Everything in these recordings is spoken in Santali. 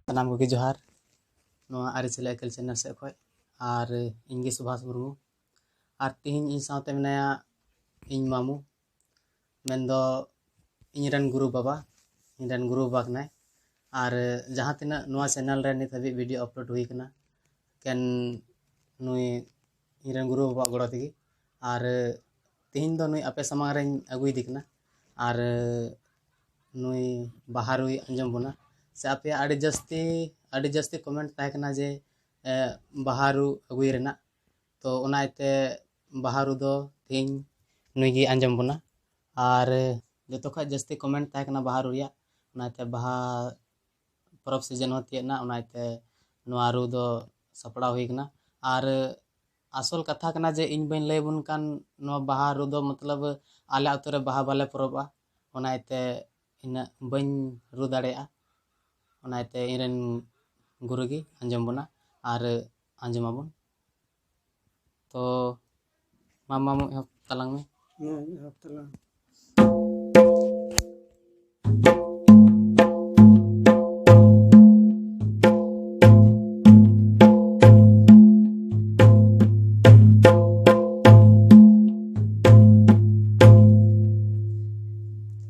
ᱥᱟᱱᱟᱢ ᱠᱚᱜᱮ ᱡᱚᱦᱟᱨ ᱱᱚᱣᱟ ᱟᱹᱨᱤᱪᱟᱹᱞᱤ ᱟᱹᱠᱤᱞ ᱪᱮᱱᱮᱞ ᱥᱮᱫ ᱠᱷᱚᱱ ᱟᱨ ᱤᱧᱜᱮ ᱥᱩᱵᱷᱟᱥ ᱢᱩᱨᱢᱩ ᱟᱨ ᱛᱮᱦᱮᱧ ᱤᱧ ᱥᱟᱶᱛᱮ ᱢᱮᱱᱟᱭᱟ ᱤᱧ ᱢᱟᱢᱩ ᱢᱮᱱᱫᱚ ᱤᱧ ᱨᱮᱱ ᱜᱩᱨᱩ ᱵᱟᱵᱟ ᱤᱧ ᱨᱮᱱ ᱜᱩᱨᱩ ᱵᱟᱵᱟ ᱠᱟᱱᱟᱭ ᱟᱨ ᱡᱟᱦᱟᱸ ᱛᱤᱱᱟᱹᱜ ᱱᱚᱣᱟ ᱪᱮᱱᱮᱞ ᱨᱮ ᱱᱤᱛ ᱦᱟᱹᱵᱤᱡ ᱵᱷᱤᱰᱤᱭᱳ ᱟᱯᱞᱳᱰ ᱦᱩᱭ ᱠᱟᱱᱟ ᱮᱠᱮᱱ ᱱᱩᱭ ᱤᱧ ᱨᱮᱱ ᱜᱩᱨᱩ ᱵᱟᱵᱟᱣᱟᱜ ᱜᱚᱲᱚ ᱛᱮᱜᱮ ᱟᱨ ᱛᱮᱦᱮᱧ ᱫᱚ ᱱᱩᱭ ᱟᱯᱮ ᱥᱟᱢᱟᱝ ᱨᱮᱧ ᱟᱹᱜᱩᱭᱮᱫᱮ ᱠᱟᱱᱟ ᱟᱨ ᱱᱩᱭ ᱵᱟᱦᱟ ᱨᱩᱭ ᱟᱸᱡᱚᱢ ᱵᱚᱱᱟ ᱥᱮ ᱟᱯᱮᱭᱟᱜ ᱟᱹᱰᱤ ᱡᱟᱹᱥᱛᱤ ᱟᱹᱰᱤ ᱡᱟᱹᱥᱛᱤ ᱠᱚᱢᱮᱱᱴ ᱛᱟᱦᱮᱸ ᱠᱟᱱᱟ ᱡᱮ ᱵᱟᱦᱟ ᱨᱩ ᱟᱹᱜᱩᱭ ᱨᱮᱱᱟᱜ ᱛᱚ ᱚᱱᱟ ᱤᱭᱟᱹᱛᱮ ᱵᱟᱦᱟ ᱨᱩ ᱫᱚ ᱛᱮᱦᱮᱧ ᱱᱩᱭ ᱜᱮᱭ ᱟᱸᱡᱚᱢ ᱵᱚᱱᱟ ᱟᱨ ᱡᱚᱛᱚ ᱠᱷᱚᱡ ᱡᱟᱹᱥᱛᱤ ᱠᱚᱢᱮᱱᱴ ᱛᱟᱦᱮᱸ ᱠᱟᱱᱟ ᱵᱟᱦᱟ ᱨᱩ ᱨᱮᱭᱟᱜ ᱚᱱᱟ ᱤᱭᱟᱹᱛᱮ ᱵᱟᱦᱟ ᱯᱚᱨᱚᱵᱽ ᱥᱤᱡᱮᱱ ᱦᱚᱸ ᱛᱤᱭᱟᱹᱜ ᱮᱱᱟ ᱚᱱᱟ ᱤᱭᱟᱹᱛᱮ ᱱᱚᱣᱟ ᱨᱩ ᱫᱚ ᱥᱟᱯᱲᱟᱣ ᱦᱩᱭ ᱠᱟᱱᱟ ᱟᱨ ᱟᱥᱚᱞ ᱠᱟᱛᱷᱟ ᱠᱟᱱᱟ ᱡᱮ ᱤᱧ ᱵᱟᱹᱧ ᱞᱟᱹᱭ ᱟᱵᱚᱱ ᱠᱟᱱ ᱱᱚᱣᱟ ᱵᱟᱦᱟ ᱨᱩ ᱫᱚ ᱢᱚᱛᱞᱚᱵᱽ ᱟᱞᱮ ᱟᱹᱛᱩ ᱨᱮ ᱵᱟᱦᱟ ᱵᱟᱞᱮ ᱯᱚᱨᱚᱵᱚᱜᱼᱟ ᱚᱱᱟ ᱤᱭᱟᱹᱛᱮ ᱤᱱᱟᱹᱜ ᱵᱟᱹᱧ ᱨᱩ ᱫᱟᱲᱮᱭᱟᱜᱼᱟ ᱚᱱᱟ ᱤᱭᱟᱹᱛᱮ ᱤᱧ ᱨᱮᱱ ᱜᱩᱨᱩ ᱜᱮ ᱟᱸᱡᱚᱢ ᱵᱚᱱᱟ ᱟᱨ ᱟᱸᱡᱚᱢ ᱟᱵᱚᱱ ᱛᱚ ᱢᱟ ᱢᱟᱢᱚ ᱮᱦᱚᱵ ᱛᱟᱞᱟᱝ ᱢᱮ ᱦᱮᱸ ᱮᱦᱚᱵ ᱛᱟᱞᱟᱝ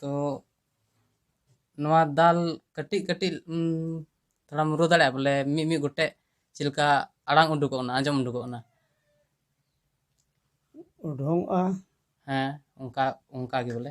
ᱛᱚ ᱱᱚᱣᱟ ᱫᱟᱞ ᱠᱟᱹᱴᱤᱡ ᱠᱟᱹᱴᱤᱡ ᱛᱷᱚᱲᱟᱢ ᱨᱩ ᱫᱟᱲᱮᱭᱟᱜᱼᱟ ᱵᱚᱞᱮ ᱢᱤᱫ ᱢᱤᱫ ᱜᱚᱴᱮᱡ ᱪᱮᱫ ᱞᱮᱠᱟ ᱟᱲᱟᱝ ᱩᱰᱩᱠᱚᱜ ᱠᱟᱱᱟ ᱟᱸᱡᱚᱢ ᱩᱰᱩᱠᱚᱜ ᱠᱟᱱᱟ ᱩᱰᱩᱝᱚᱜᱼᱟ ᱦᱮᱸ ᱚᱱᱠᱟ ᱚᱱᱠᱟ ᱜᱮ ᱵᱚᱞᱮ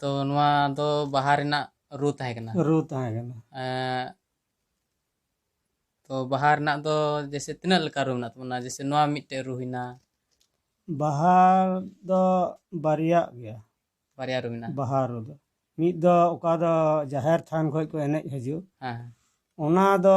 ᱛᱚ ᱱᱚᱣᱟ ᱫᱚ ᱵᱟᱦᱟ ᱨᱮᱱᱟᱜ ᱨᱩ ᱛᱟᱦᱮᱸ ᱠᱟᱱᱟ ᱨᱩ ᱛᱟᱦᱮᱸ ᱠᱟᱱᱟ ᱛᱚ ᱵᱟᱦᱟ ᱨᱮᱱᱟᱜ ᱫᱚ ᱡᱮᱥᱮ ᱛᱤᱱᱟᱹᱜ ᱞᱮᱠᱟ ᱨᱩ ᱢᱮᱱᱟᱜ ᱛᱟᱵᱚᱱᱟ ᱡᱮᱥᱮ ᱱᱚᱣᱟ ᱢᱤᱫᱴᱮᱡ ᱨᱩ ᱦᱩᱭᱱᱟ ᱵᱟᱦᱟ ᱫᱚ ᱵᱟᱨᱭᱟᱜ ᱜᱮᱭᱟ ᱵᱟᱨᱭᱟ ᱨᱩ ᱢᱮᱱᱟᱜᱼᱟ ᱵᱟᱦᱟ ᱨᱩ ᱫᱚ ᱢᱤᱫ ᱫᱚ ᱚᱠᱟ ᱫᱚ ᱡᱟᱦᱮᱨ ᱛᱷᱟᱱ ᱠᱷᱚᱡ ᱠᱚ ᱮᱱᱮᱡ ᱦᱤᱡᱩᱜ ᱦᱮᱸ ᱚᱱᱟ ᱫᱚ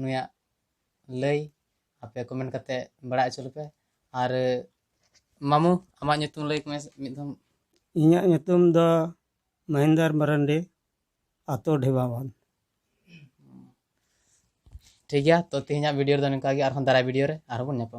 ᱱᱩᱭᱟᱜ ᱞᱟᱹᱭ ᱟᱯᱮ ᱠᱚᱢᱮᱱᱴ ᱠᱟᱛᱮ ᱵᱟᱲᱟᱭ ᱦᱚᱪᱚ ᱞᱮᱯᱮ ᱟᱨ ᱢᱟᱢᱩ ᱟᱢᱟᱜ ᱧᱩᱛᱩᱢ ᱞᱟᱹᱭ ᱢᱮ ᱢᱤᱫ ᱫᱷᱟᱣ ᱤᱧᱟᱹᱜ ᱧᱩᱛᱩᱢ ᱫᱚ ᱢᱚᱦᱤᱱᱫᱚᱨ ᱢᱟᱨᱟᱱᱰᱤ ᱟᱛᱳ ᱰᱷᱮᱵᱟᱵᱟᱱ ᱴᱷᱤᱠ ᱜᱮᱭᱟ ᱛᱚ ᱛᱮᱦᱮᱧᱟᱜ ᱵᱷᱤᱰᱤᱭᱳ ᱨᱮᱫᱚ ᱱᱚᱝᱠᱟ ᱜᱮ ᱟᱨᱦᱚᱸ ᱫᱟᱨᱟᱭ ᱵᱷᱤᱰᱤᱭᱳ ᱨᱮ ᱟᱨᱦᱚᱸ ᱵᱚᱱ ᱧᱟᱯᱟᱢᱟ